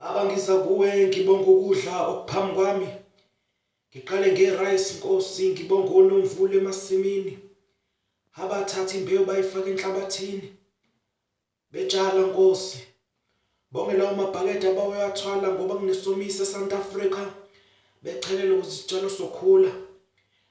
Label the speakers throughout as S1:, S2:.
S1: Abangisa kuwe ngibonga ukudla okuphambi kwami. Ngiqale nge-rice Nkosi ngibonga onomvula emasimini. Abathatha imbewu bayifaka enhlabathini. Betshala Nkosi. Bonge lawo mabhakede abawathwala ngoba kunesomiso eSouth Africa bechelele ukuze isitshalo sokhula.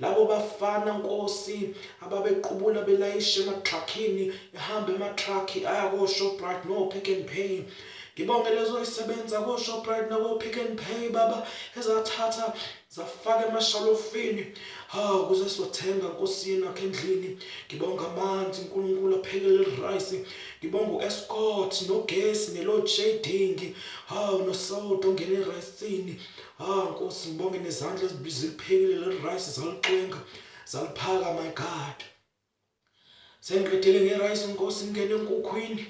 S1: Labo bafana nkosi ababequbula belayisha ematruckini ehamba ematrucki aya koShoprite noPick and Pay. Ngibonge lezo isebenza koShoprite nakoPick and Pay baba ezathatha zafaka emashalofini. Hawu kuze sothenga nkosi yenu akhe endlini. Ngibonga amanzi uNkulunkulu aphekele rice. Ngibonga uEscort nogesi neload shedding. Hawu noSoto ngene ericini. Ah Nkosi ngibonge nezandla ezibiziliphekile le rice zalixwenga zaliphaka my God. Sengiqedele nge rice Nkosi ngene enkukhwini.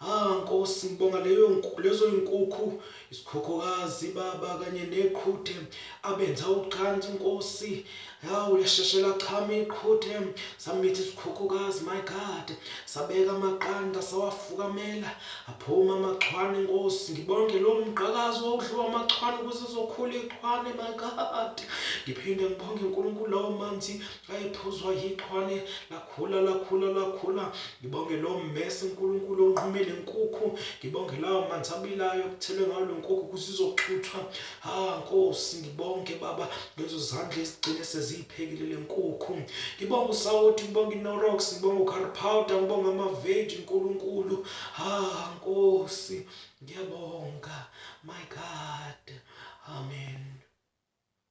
S1: Ah Nkosi ngibonga leyo lezo inkukhu isikhokhokazi baba kanye neqhuthe abenza ucansi Nkosi Hawu lasheshe lachama iqhuthe samitha isikhukhukazi my god sabeka amaqanda sawafukamela aphuma amachwane nkosi ngibonge lo mqakazi wawudliwa amachwane ukuze izokhula iqhwane my god ngiphinde ngibonge unkulunkulu lawo manzi ayephuzwa yiqhwane lakhula lakhula lakhula ngibonge lo mmese unkulunkulu onqumele nkukhu ngibonge lawo manzi abilayo kuthelwe ngawo lo nkukhu ukuze izoxuthwa Ah Nkosi ngibonge baba lezo zandla ezigcine seziyiphekile lenkukhu. Ngibonga usawoti, ngibonga iNorox, ngibonga uCurry powder, ngibonga amaveji uNkulunkulu. Ah Nkosi ngiyabonga. My God. Amen.